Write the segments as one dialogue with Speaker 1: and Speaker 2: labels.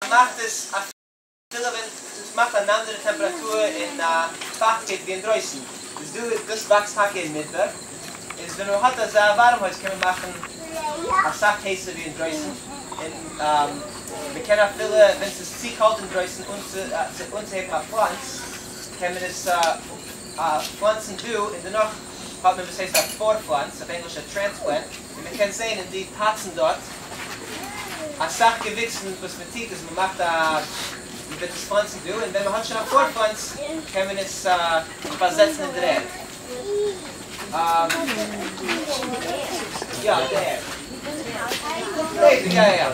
Speaker 1: מאכט עס אפילו ווען עס מאכט אן אנדערע טעמפראטור און פייכטקייט ווי אינדרויסן, איז דא דאס וואקסט טאקע אינמיטן, איז ווען מען האט אזא ווארעם הויז קען מען מאכן אסאך הייסער ווי אינדרויסן, און מען קען אפילו ווען ס'איז צו קאלט אינדרויסן אנצוהייבן א פלאנץ קען מען עס פלאנצן דא, און דערנאך האט מען וואס הייסט א פאר פלאנץ, אויף ענגליש א טרענספלענט. און מען קען זעהן אין די פאצן דארט אסאך געוויקס און וואס מען טוט איז מען מאכט א מען וועט עס פלאנצן דא און ווען מען האט שוין א פארפלאנץ קען מען עס פארזעצן אין דער ערד יא אין די ערד.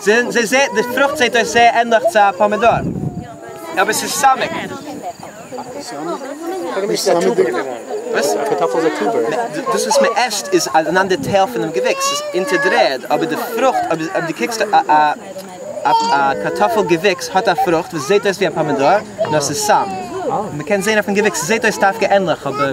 Speaker 1: זי זעט, די פרוכט זעט אויס זייער ענדליך צו א פאמידאר, אבער ס'איז סאמעט. נישט סאמעט דיקער. וואס?
Speaker 2: א קארטאפל איז א טובער. נע, דאס
Speaker 1: וואס מען עסט איז אן אנדער טייל פונעם געוויקס, ס'איז אונטער דער ערד, אבער די פרוכט, אויב דו קוקסט אויף א קארטאפל געוויקס, האט א פרוכט וואס זעט אויס ווי א פאמידאר, נאר ס'איז סאמעט. מען קען זען אויפן געוויקס, ס'זעט אויס דווקא ענדליך, אבער.